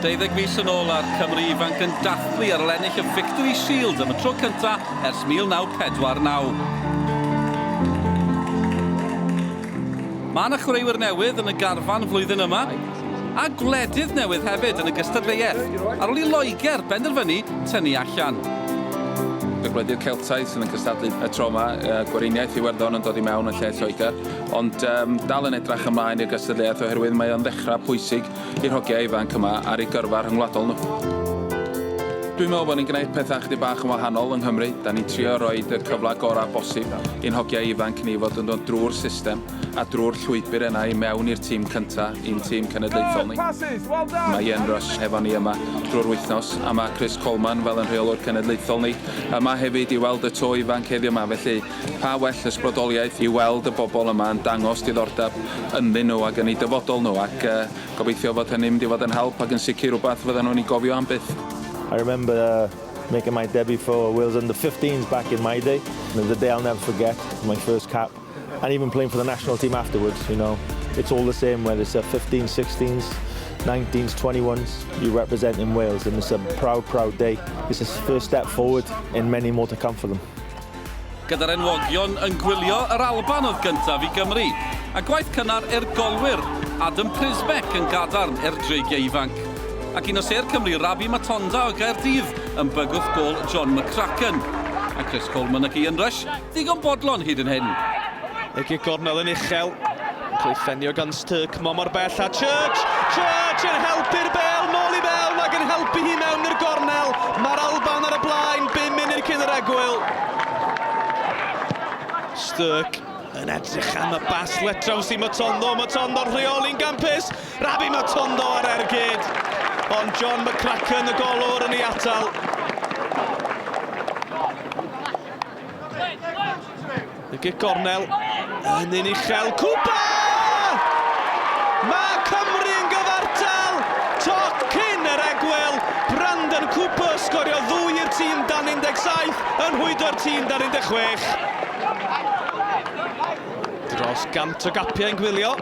Deuddeg mis yn ôl a'r Cymru ifanc yn dathlu ar ol ennill y Victory Shield am y tro cyntaf ers 1949. Mae yna chwaraewyr newydd yn y garfan flwyddyn yma, a gwledydd newydd hefyd yn y gystadleuaeth, ar ôl i Loegr benderfynu tynnu allan. Y gwledydd Celtaidd sydd yn cystadlu y tro yma, Gweriniaeth Iwerddon yn dod i mewn yn lle Lloegr. Ond um, dal yn edrach ymlaen i'r gystadleuaeth oherwydd mae o'n ddechrau pwysig i'r hogiau ifanc yma ar ei gyrfa rhyngwladol nhw. Dwi'n meddwl bod ni'n gwneud pethau chdi bach yn wahanol yng Nghymru. Da ni'n trio rhoi y cyfle gorau bosib i'n hogiau ifanc ni fod yn dod drwy'r system a drwy'r llwybr yna i mewn i'r tîm cyntaf, i'n tîm cenedlaethol ni. Mae Ian Rush hefo ni yma drwy'r wythnos a mae Chris Coleman fel yn rheolwr cenedlaethol ni yma hefyd i weld y to ifanc heddiw yma felly Pa well ysbrydoliaeth i weld y bobl yma yn dangos diddordeb ynddyn nhw ac yn eu dyfodol nhw ac gobeithio fod hynny'n mynd i fod yn help ac yn sicr rhywbeth fyddan nhw'n ei gofio am byth. I remember making my debut for Wales under 15s back in my day and it was a day I'll never forget, my first cap and even playing for the national team afterwards, you know, it's all the same whether it's a 15s, 16s, 19s, 21s, you're representing Wales and it's a proud, proud day, it's a first step forward in many more to come for them. Gyda'r enwogion yn gwylio, yr Alban oedd gyntaf i Gymru, a gwaith cynnar er golwyr, Adam Prysbeck yn gadarn er dreigiau ifanc. Ac un o sêr Cymru, Rabbi Matonda o Gaerdydd yn bygwth gôl John McCracken. A Chris Coleman ac Ian Rush ddigon bodlon hyd yn hyn. Egi gornel yn uchel. Cleiffenio gan Styrk, mo mor bell a Church! Church yn helpu'r bel nôl i fewn ac yn helpu hi mewn i'r gornel. Mae'r Alban ar y blaen, bum munud cyn yr egwyl. Styrk yn edrych am y bas let draws i Matondo. Matondo'n rheoli'n gampus. Rabi Matondo ar ergyd. Ond John McCracken, y golwr, yn ei atal. Y gic gornel yn un uchel. Cwpa! Mae Cymru yn gyfartal! Toc cyn yr egwyl, Brandon Cooper sgorio ddwy i'r tîm dan 17 yn hwydo'r tîm dan 16. Dros gant o gapiau yn gwylio.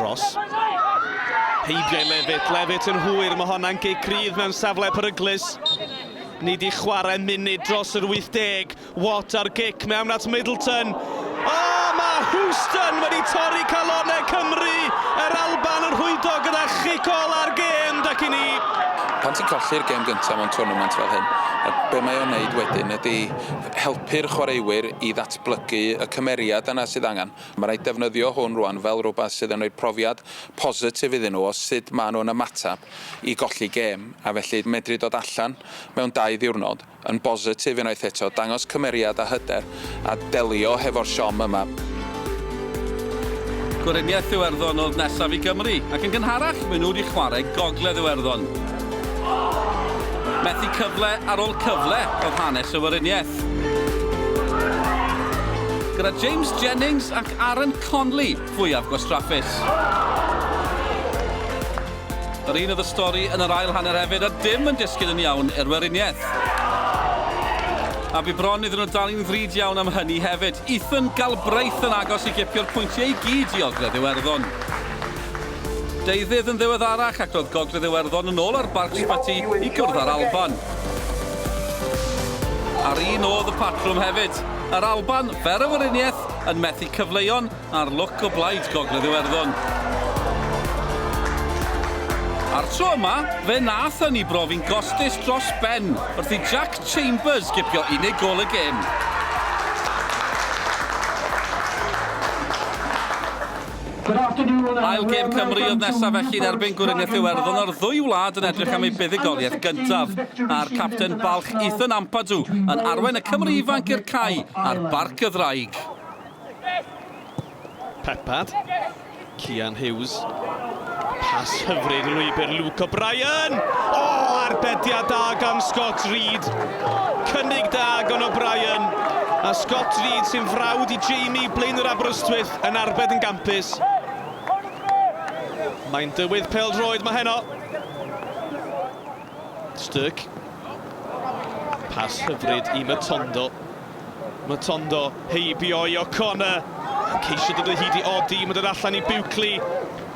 Ross. Heibio i Levitt, Levitt yn hwyr, mae honna'n gic rydd mewn safle peryglus. Ni 'di chwarae munud dros yr 80. Watt ar gic mewn at Middleton. O, mae Houston wedi torri calonnau Cymru! Yr Alban yn rhwydo gyda chic ol ar gêm, dec i ni. Pan ti'n colli'r gêm gyntaf mewn twrnament fel hyn, be mae o'n wneud wedyn ydy helpu'r chwaraewyr i ddatblygu y cymeriad yna sydd angen. Mae'n rhaid defnyddio hwn rwan fel rhywbeth sydd yn rhoi profiad positif iddyn nhw o sut maen nhw'n ymateb i golli gêm, a felly medru dod allan mewn dau ddiwrnod yn bositif unwaith eto, dangos cymeriad a hyder, a delio hefo'r siom yma. Gweriniaeth Iwerddon oedd nesaf i Gymru, ac yn gynharach maen nhw wedi chwarae Gogledd Iwerddon. Methu cyfle ar ôl cyfle oedd hanes y Weriniaeth. Gyda James Jennings ac Aaron Conley, fwyaf gwastraffus. Yr un oedd y stori yn yr ail hanner hefyd a dim yn disgyn yn iawn i'r Weriniaeth. A bu bron iddyn nhw dal i'n ddrud iawn am hynny hefyd. Ethan Galbraith yn agos i gipio'r pwyntiau i gyd i Ogledd Iwerddon. Deuddydd yn ddiweddarach ac roedd Gogledd Iwerddon yn ôl ar Barc Sbyty i gwrdd â'r Alban. A'r un oedd y patrwm hefyd. Yr Alban, fer y Weriniaeth, yn methu cyfleuon ar lwc o blaid Gogledd Iwerddon. A'r tro yma, fe nath hynny brofi'n gostus dros ben wrth i Jack Chambers gipio unig gol y gêm. Ail gêm Cymru oedd nesaf felly yn erbyn Gweriniaeth Iwerddon o'r ddwy wlad yn edrych am ei buddugoliaeth gyntaf. A'r capten balch Ethan Ampadu yn arwain y Cymry ifanc i'r cae ar Barc y Ddraig. Peppard, Cian Hughes, pas hyfryd yn lwybr Luke O'Brien! O, arbediad da gan Scott Reed. Cynnig da gan O'Brien, a Scott Reed sy'n frawd i Jamie Blaenor Aberystwyth yn arbed yn gampus. Mae'n dywydd pêl-droed mae heno. Sturk. Pas hyfryd i Matondo. Matondo heibio i O'Connor. Ceisio dod o hyd i Odi, mae'n dod allan i Buckley.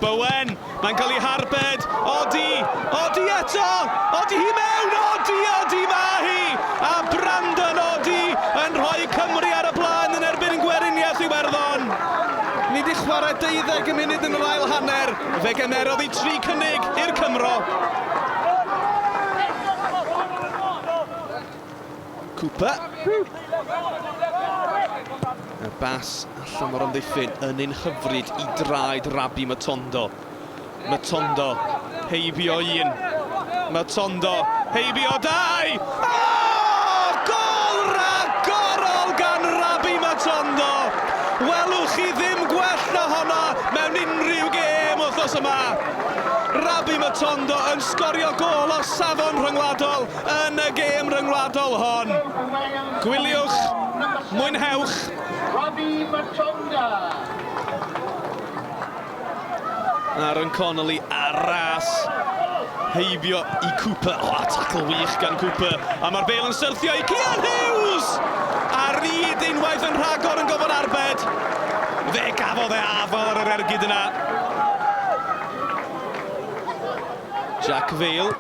Bowen, mae'n cael ei harbed, odi, odi eto, odi hi mewn, odi, odi mae hi! A Brandon Odi yn rhoi Cymru ar y blaen yn erbyn Gweriniaeth Iwerddon. Ni wedi chwarae deuddeg y munud yn yr ail hanner, fe gymerodd hi tri cynnig i'r Cymro. Cooper. Y bas allan mor amddiffyn yn ein hyfryd i draed Rabi Matondo. Matondo, heibio un. Matondo, heibio dau! Oh! Gol ragorol gan Rabi Matondo! Welwch chi ddim gwell na honna mewn unrhyw gêm wythnos yma. Rabi Matondo yn sgorio gol o safon rhyngwladol Yn y gêm ryngwladol hon, gwyliwch, mwynhewch! Robbie Machonda. Aaron Connolly ar ras, heibio i Cooper. O, oh, tacl wych gan Cooper. A mae'r bel yn syrthio i Cian Hughes! A Reid unwaith yn rhagor yn gofod arbed. Fe gafodd e afal ar yr ergyd yna. Jack Vale,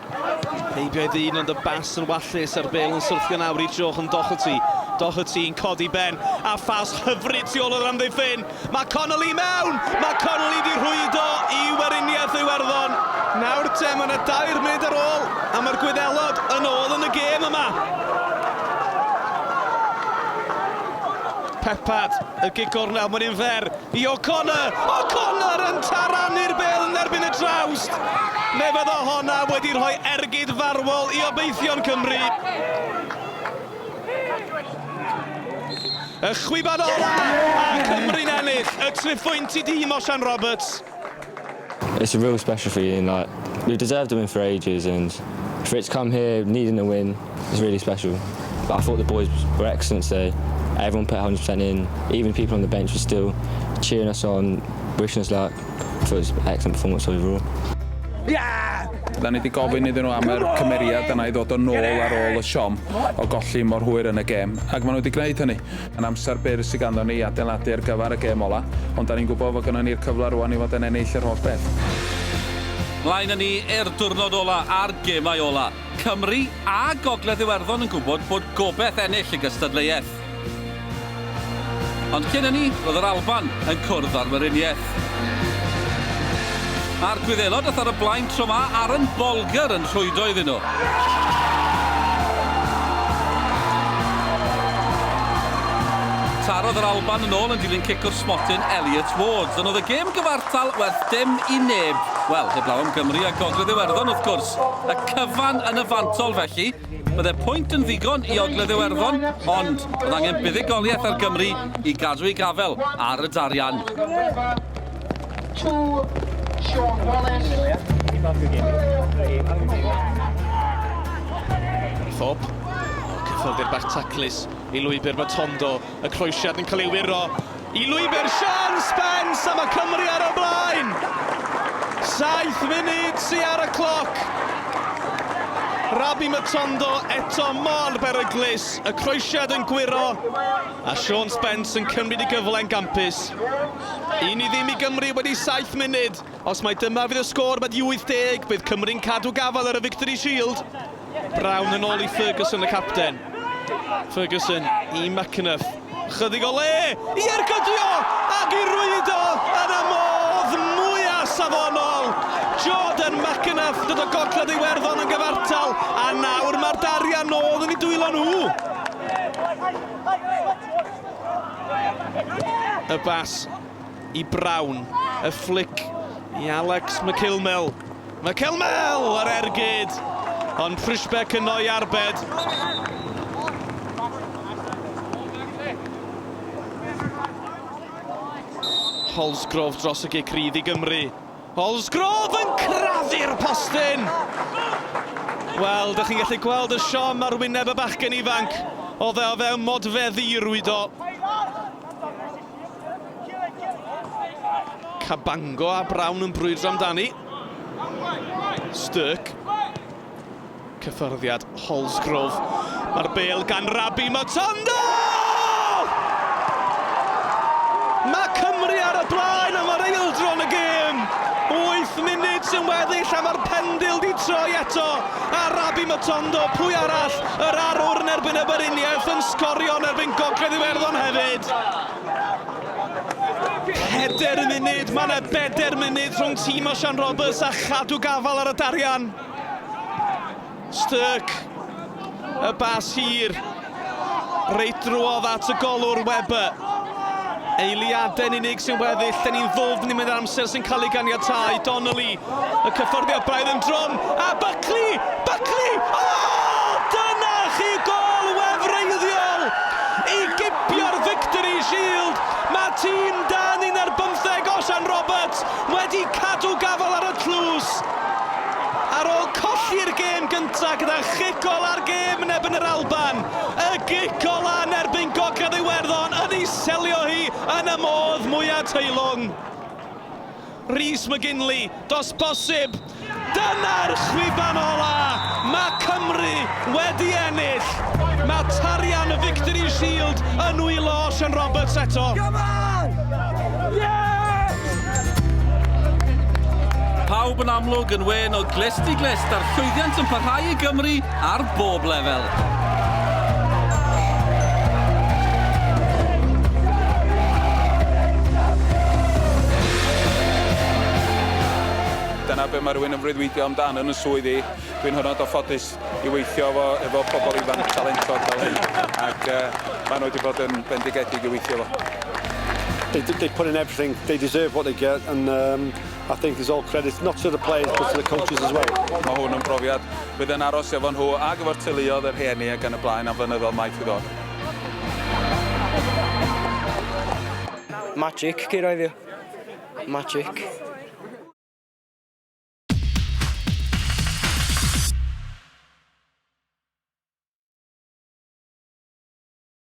heibio ei ddyn ond y bas yn wallus a'r bêl yn syrthio nawr i Jochen Doherty. Doherty yn codi ben a ffas hyfryd tu ôl o'r amddiffyn. Mae Connolly i mewn! Mae Connolly wedi rhwydo i Weriniaeth Iwerddon. Nawr te, mae yna dair munud ar ôl a mae'r Gwyddelod yn ôl yn y gêm yma. Peppard, y gig gornel, mae'n un fer. i O'Connor, O'Connor yn tarannu'r bel yn erbyn y trawst! Fe fyddo honna wedi rhoi ergyd farwol i obeithion Cymru. Y chwiban ola, a Cymru'n ennill y triphwynt i dîm Osian Roberts. It's a real special feeling, like, we've deserved a win for ages and for it to come here needing a win is really special. But I thought the boys were excellent today. Everyone put 100% in, even the people on the bench were still cheering us on, wishing us luck. I thought it was an excellent performance overall. Yeah! Da ni wedi gofyn iddyn nhw am yr cymeriad yna i ddod yn ôl ar ôl y siom o golli mor hwyr yn y gêm, ac maen nhw wedi gwneud hynny. Yn amser byr sy ganddon ni i adeiladu ar gyfer y gêm ola, ond 'da ni'n gwybod fod gynnon ni'r cyfle rŵan i fod yn ennill yr holl beth. Mlaen â ni i'r diwrnod ola a'r gemau ola. Cymru a Gogledd Iwerddon yn gwybod bod gobeth ennill y gystadleuaeth. Ond cyn hynny, roedd yr Alban yn cwrdd â'r Weriniaeth. A'r Gwyddelod oedd ar y blaen tro ma Aaron Bolger yn rhwydo iddyn nhw. Tarodd yr Alban yn ôl yn dilyn cic o'r smotyn Elliot Ward. Dyna oedd y gêm gyfartal werth dim i neb. Wel, heblaw am Gymru a Gogledd Iwerddon wrth gwrs. Y cyfan yn y fantol felly. Byddai pwynt yn ddigon i Ogledd Iwerddon, ond bydd angen buddugoliaeth ar Gymru i gadw ei gafel ar y darian. Thorpe, cethyldir bach taclus i lwybr Matondo. Y croesiad yn cael ei wyro i lwybr Sean Spence a mae Cymru ar y blaen! Saith munud sy ar y cloc. Rabi Matondo eto mor beryglus, y croesiad yn gwyro a Sean Spence yn cymryd y gyfle'n gampus. Un i ddim i Gymru wedi saith munud. Os mai dyma fydd y sgôr wedi 80, bydd Cymru'n cadw gafael ar y Victory Shield. Brown yn ôl i Ferguson y capten. Ferguson i McAnuff. Chydig o le i ergydio ac i rwydo yn y modd mwyaf safonol. Jordan McAnuff, dod o Gogledd Iwerddon yn gyfartal a nawr mae'r darian nôl yn ei dwylo nhw. Y bas i Brown, y fflic i Alex McIlmel. Mae Kelmel ar ergyd, ond Prishbeck yno i arbed. Holsgrove dros y gic rydd i Gymru. Holsgrove yn crafu'r postyn! Wel, dych chi'n gallu gweld y siom ar wyneb y bachgen ifanc. Oedd e o fewn modfeddi i rwydo. Cabango a Brown yn brwydro amdani. Stirk. Cyffyrddiad Holsgrove. Mae'r bel gan Rabi Matondo! Mae Cymru ar y blaen am yr eildro yn y gêm. 8 munud sy'n weddill a mae'r pendil di troi eto a Rabi Matondo, pwy arall, yr arwr yn erbyn y Beriniaeth yn sgorio yn erbyn Gogledd Iwerddon hefyd. Pedair munud, mae yna bedair munud rhwng tîm Osian Roberts a Chadw Gafal ar y darian. Sturk, y bas hir, reit drwodd at y golwr Webber. Eiliadau'n unig sy'n weddill, da ni'n ddwfn i mynd amser sy'n cael ei ganiatau. Donnelly, Y cyfforddiad braidd yn drwm, a Buckley! Buckley! O! Dyna chi gôl wefreiddiol i gipio'r Victory Shield! Mae tîm dan 11 Osian Roberts wedi cadw gafael ar y tlws ar ôl colli'r gêm gyntaf gyda chic ola'r gêm yn erbyn yr Alban. Y gic ola yn erbyn Gogledd Iwerddon yn ei selio hi yn y modd mwya teilwng. Rhys McGinley, does bosib! Dyna'r chwiban ola! Mae Cymru wedi ennill! Mae tarian y Victory Shield yn nwylo Osian Roberts eto! Come on! Yeah! Pawb yn amlwg yn wên o glust i glust a'r llwyddiant yn parhau i Gymru Ar bob lefel! dyna beth mae rhywun yn freuddwydio amdan yn y swydd i. Dwi'n hynod o ffodus i weithio efo, efo pobl ifanc talentog fel hyn, ac uh, maen nhw wedi bod yn bendigedig i weithio efo. They, they put in everything, they deserve what they get, and um, I think it's all credit not to the players but to the coaches as well. Mae hwn yn brofiad fydd yn aros efo nhw a gyfo'r teuluodd, y rhieni ac yn y blaen am flynyddoedd maith i ddod. Magic, ceir oedd yw. Magic.